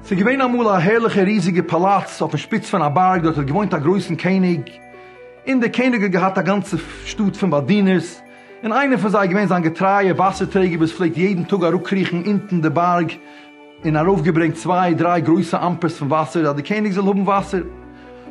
ס'איז געווען אמאל א הערליכע ריזיגע פאלאץ אויפן שפיץ פון א בארג, דארט האט געוואוינט א גרויסן קעניג, און דער קעניג האט געהאט א גאנצע שטאט פון באדינערס, און איינער פון זיי איז געווען זיין געטרייער וואסער טרעגער וואס פלעגט יעדן טאג אראפקריכן אונטן די בארג, און ארויפגעברענגט צוויי דריי גרויסע אמפערס פון וואסער אז די קעניג זאל האבן וואסער.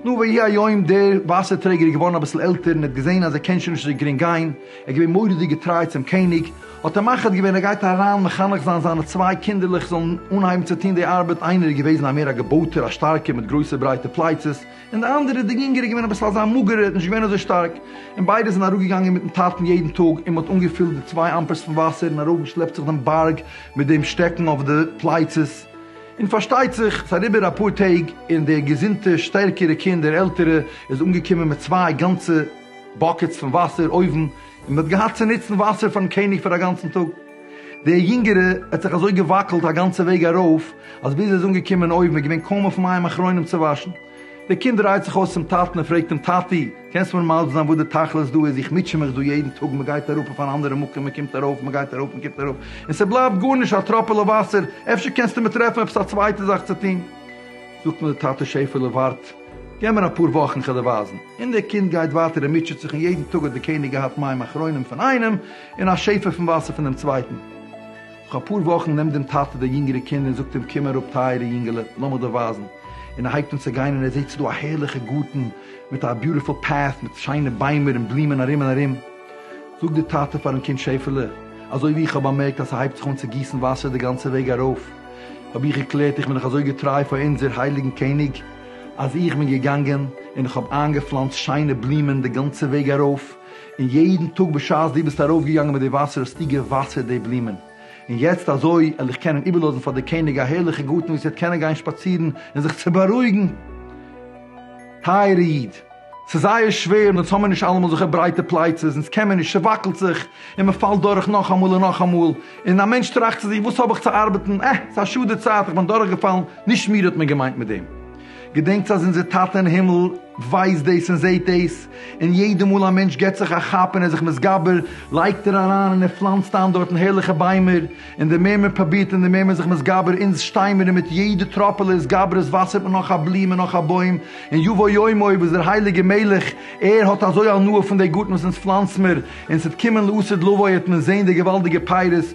נו ויהי היום דער וואסער טרעגער איז געווארן אביסל עלטער און ער האט געזען אז ער קען שוין נישט אזוי גרינג גיין, ער איז געווען מורא'דיג געטריי צום קעניג, האט ער מחליט געווען ער גייט אריין מחנך זיין זיינע צוויי קינדערלעך זאלן אנהייבן צו טון די ארבעט, איינער איז געוועזן א מער א געבויטער א שטארקער מיט גרויסע ברייטע פלייצעס, און די אנדערע איז די יונגערע געווען אביסל אזא מאגערע האט נישט געווען אזוי שטארק, און ביידע זענען אראפגעגאנגען מיטן טאטן יעדן טאג און מען האט אנגעפילט די צוויי אמפערס פון וואסער און ארויפגעשלעפט זיך דעם בארג מיט דעם שטעקן אויף די פלייצעס, און פארשטייט זיך ס'איז אריבער אפאר טעג און דער געזונטע שטערקערע קינד דער עלטערע איז אנגעקומען מיט צוויי גאנצע באקעטס פון וואסער אויבן און מען האט געהאט צו נוצן וואסער פארן קעניג פאר א גאנצן טאג. דער יונגערע האט זיך אזוי געוואקלט א גאנצע וועג ארויף, אז ביז ער איז אנגעקומען אויבן איז געווען קוים אויף מים אחרונים צו וואשן. דער קינד דרייט זיך אויס צום טאטן און פרעגט אים, טאטי, קענסט מיר מסביר זיין וואס די תכלית דא איז, איך מוטשע מיך דא יעדן טאג, מען גייט אראפ אויף אן אנדערע מקום, מען קומט ארויף, מען גייט ארויף, מען קומט אראפ, און ס'בלייבט גארנישט, א טראפעלע וואסער, אפשר קענסטו מיר טרעפן עפעס א צווייטע זאך צו טון? זאגט אים דער טאטע, שעפעלע, ווארט, געב מיר אפאר וואכן, כ'וועל דיר ווייזן. און דער קינד גייט ווייטער און מוטשעט זיך, און יעדן טאג האט דער קעניג געהאט מים אחרונים פון איינעם, און אַ שעפֿע פֿון װאַסער פֿון דעם צװײטן. נאָך אַ פּאָר װאָכן נעמט דעם טאַטע די ייִנגערע קינד און זאָגט אים, קום אַראָפּ, טײַערע ייִנגעלע, לאָם איך דיר װײַזן. און ער הײבט אָן צו גײן און ער זעט ס'איז דאָ אַ הערלעכער גאָרטן מיט אַ ביוטיפֿול פּאַט מיט שײנע בײמער און בלומען אַרום און אַרום. זאָגט דער טאַטע פֿאַרן קינד, שעפֿעלע, אַזױ װי איך האָב באַמערקט אַז ס'הײבט זיך אָן צו גיסן װאַסער די גאַנצע װעג אַרױף, האָב איך געקלערט איך בין דאָך אַזױ געטרײַ פֿאַר אונדזער הײליקן קעניג אַז איך בין געגאַנגען און איך האָב אײַנגעפֿלאַנצט שײנע בלומען די גאַנצע װעג אַרױף. און יעדן טאג בשעת דו ביסט ארויפגעגאנגען מיט די וואסער האסטו געוואסערט די בלומען, און יעצט אזוי על איך קענען איבערלאזן פאר די קעניג א הערליכע גארטן וואו עס וועט קענען גיין שפאצירן און זיך צו בארואיגן. טייערע איד, ס'איז זייער שווער און אונז האמיר נישט אלעמאל אזעלכע ברייטע פלייצעס, אונז קען מיר נישט, ס'וואקלט זיך, און מ'פאלט דורך נאכאמאל און נאכאמאל, און א מענטש טראכט צו זיך וואס האב איך צו ארבעטן, אה, ס'איז א שאד די צייט, איך בין דורכגעפאלן, נישט מיר האט מען געמיינט מיט דעם. געדענקטס אז אונזער טאטע אין הימל ווייסט דאס און זעהט דאס, און יעדע מאל א מענטש געבט זיך א כאפ און ער איז זיך מתגבר, לייגט ער אריין און ער פלאנצט איין דארטן הערליכע ביימער, און די מער מען פרובירט און די מער מען איז זיך מתגבר, אונז שטיי מיר און מיט יעדע טראפעלע התגברות וואסערט מען נאך א בלום און נאך א בוים, און יבוא יום אויב איז דער הייליגער מלך ער האט אזוי הנאה פון די גארטן וואס אונז פלאנצט מיר, און ס'וועט קומען לעתיד לבוא העט מען זעהן די געוואלדיגע פירות,